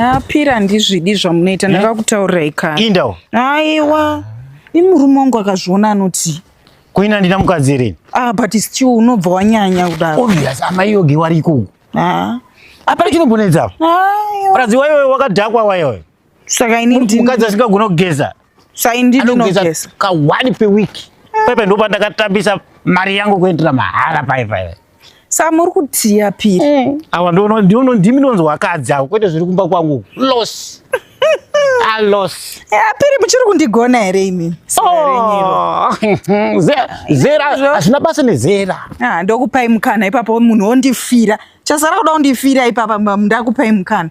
apira ndizvidi zvamunoita ndakakutaurirai kare indawo aiwa imurume wangu akazviona anoti kuina ndina mukadzi here ah but still unobva wanyanya kudaro obvious amai yoge wariko ah. apana chinobonedza ah, ayiwa. mukadzi wayo wakadhakwa wayoyo Saka ini ndini mukadzi asingagona kugeza. Saka ini ndini ndinogeza. Ka one per week. Pepe ndo pandakatambisa mari yangu kuendera mahara pai pai. Saka muri kutiya piri. Eh. Awa ndono ndono ndimi ndonzwa akadzi awo kwete zviri kumba kwangu. Loss. A loss. Eh, piri muchiri kundigona here imi? Oh. Zera hazvina basa nezera. Ah, ndokupai mukana ipapo munhu ondifira. Chasara kuda kundifira ipapa ndakupai mukana.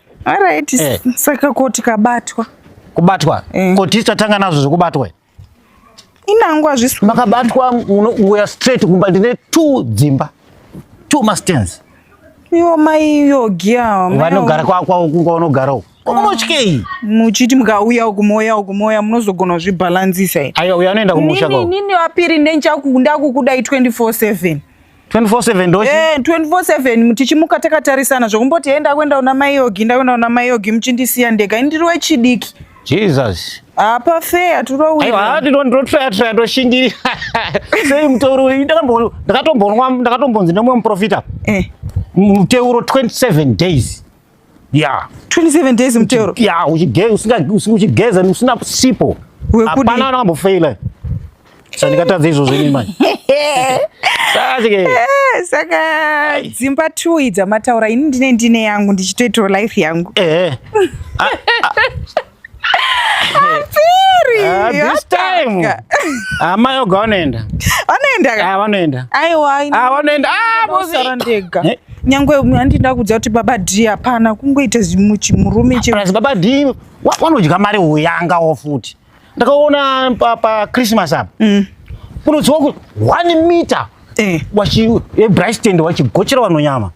Alright, eh. saka koti kabatwa. Kubatwa? Eh. Koti tatanga nazvo zvekubatwa. Inangu azvisu. Makabatwa uya straight kumba ndine two dzimba. Two mastens. Iwo mai iyo giya. Vanogara kwa kwa kunga unogara uko. Kumochkei. Muchiti mukauya uku moya uku moya munozogona zvibalanzisa. Ayo uya anoenda kumusha kwako. Nini nini wapiri ndenja kukunda kukuda 24/7. 24/7 ndochi eh 24/7 tichimuka takatarisana zvokumboti enda kwenda una mai yogi nda kwenda una mai yogi muchindisiya ndega ini ndiri wechidiki Jesus apa fair turowi aiwa hati ndo ndo fair fair ndo shingiri sei mteuro ndakambo ndakatombonwa ndakatombonzi nemwe muprofita eh mteuro 27 days Yeah. 27 days mteuro. Yeah, uchigeza usinga uchigeza usina sipo. Hapana anambo fail. Sasa nikatadza izvo zvenyu manje. Sasa ke. Eh, saka dzimba two idza mataura ini ndine ndine yangu ndichitoitawo life yangu. Eh. eh. Ah, ah. Ah, this time hama yoga vanoenda vanoenda vanoenda aiwa ah, vanoenda ah, mosara ndega eh? nyangwe handi ndakudza kuti baba d hapana kungoita chimurume cheplus baba d wanodya mari uyangawo futi ndakaona pachristmas apa mm. kunoziwa kuti one meter eh. wachibristand wachigochera vanonyama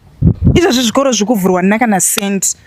izvozvi zvikoro zviri kuvhurwa nina kana cent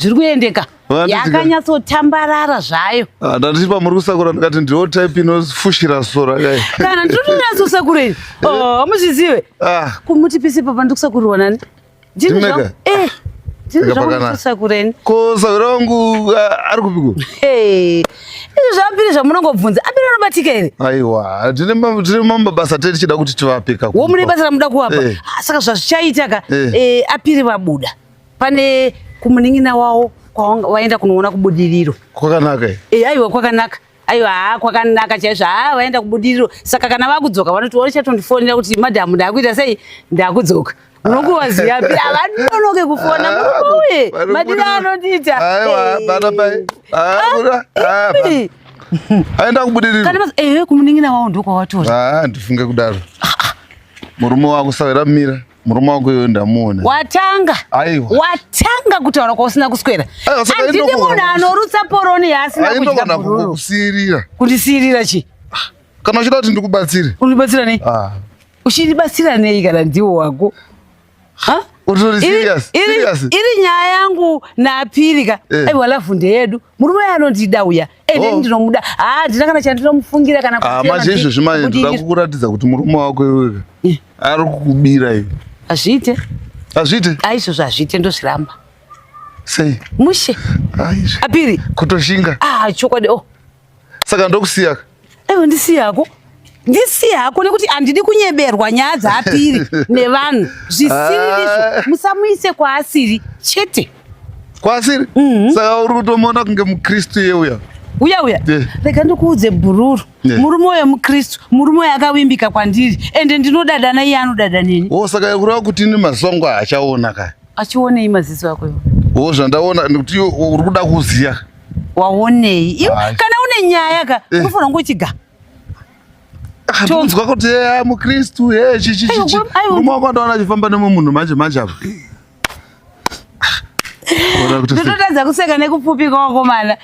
zviri kuendeka yakanyatsotambarara zvayo ah, ndati pamuri kusakura ndikati ndiwo type inofushira sora kai kana ndinotonyatsosakura ini eh. oh, amuzvizive ah. kumuti pisi papa ndikusakurirwa nani ndineka eh, ko sahwira wangu ah, ari kupiko izvi zvavambiri zvamunongobvunza ambiri anobatika here aiwa tine mamwe mabasa te tichida kuti tivapeka wo mune basa ramuda kuvapa eh. saka zvazvichaitaka apiri vabuda pane kumunin'ina wawo kwawaenda kunoona kubudiriro kwakanaka e eh, aiwa kwakanaka aiwa haa kwakanaka chaizvo haa vaenda kubudiriro saka kana vakudzoka vanoti warichatondifonera kuti madhamu ndakuita sei ndakudzoka unokuvaziva pira vanonoke kufona murume uye madira anondiita aenda kubudiriro ehe kumunin'ina wawo ndokwawatoa ah, ndifunge kudaro murume wakusavira mira murume wako iyoyo ndamuona watanga aiwa watanga kutaura kwausina kuswera andidi munhu anorutsa poroni yaasina kudya bururu kusirira kundisirira chi ah, kana uchida kuti ndikubatsire undibatsira nei ah. uchindibatsira nei kana ndiwo wako ha iri nyaya yangu naapirika eh. aiwa lavhu ndeyedu murume uya anondida uya ende oh. ndinomuda haa ndina kana chandinomufungira kana ah, manje izvezvi manje ndoda kukuratidza kuti murume wako iweka eh. ari kukubira iwe hazviite hazviite aizvozvo ah, hazviite ndozviramba sei mushe apiri kutoshinga ah, chokwadi o oh. saka ndokusiya ewe ndisiyako ndisiye hako nekuti handidi kunyeberwa nyaya dzaapiri nevanhu zvisiririzvo ah. musamuise kwaasiri chete kwaasiri mhm. saka uri kutomuona kunge mukristu iye uya uya uya rega ndikuudze bhururu murume uyo mukristu murume uyo akavimbika kwandiri ende ndinodadana iye anodada neni o oh, saka kureva kuti ini mazuva ngo achaona ka achionei maziso ako iwo wo zvandaona nekuti uri kuda kuziva waonei iwe kana une nyaya ka eh. unofanira kunge uchiga tonzwa kuti eya mukristu e chichichichi murume wako andaona achifamba nemwe munhu manje manje apa ndototadza kuseka nekupfupika wakomana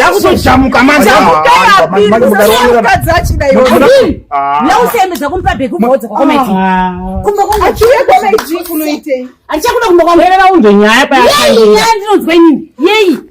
yakutojamuka manausemedza kumupa bheki umaudza kwakomedi kumba kwangu achichakuda kumba kwangu unzwe nyaya payandinonzwa inini yeyi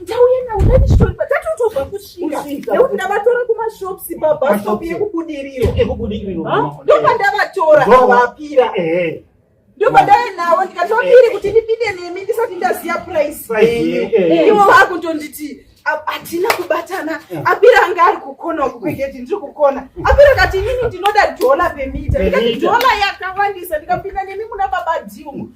Ndauya nawo ndandishonba tatotobva kusvika nekuti ndavatora kumashops pabhasopi yekubudiriro ndopandavatora avapira ndopandave nawo ndikatopiri kuti ndipinde nemi ndisati ndaziva price ivo vakutonditi hatina kubatana apira anga ari kukona kukweketi ndiri kukona apira kati inini ndinoda dhola pemita ndikati dhola yakawandisa ndikapinda nemi muna baba dhiumu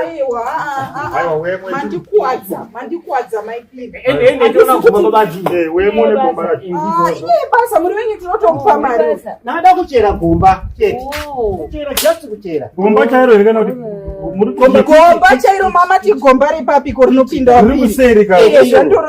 aiwa mandikuwadza mandikuwadza maibasa muri venyu tinotokupa mari nada kuchera gomba chete just kuchera gomba chairo here kana kuti gomba chairo mama tigomba repapiko rinopinda wapiri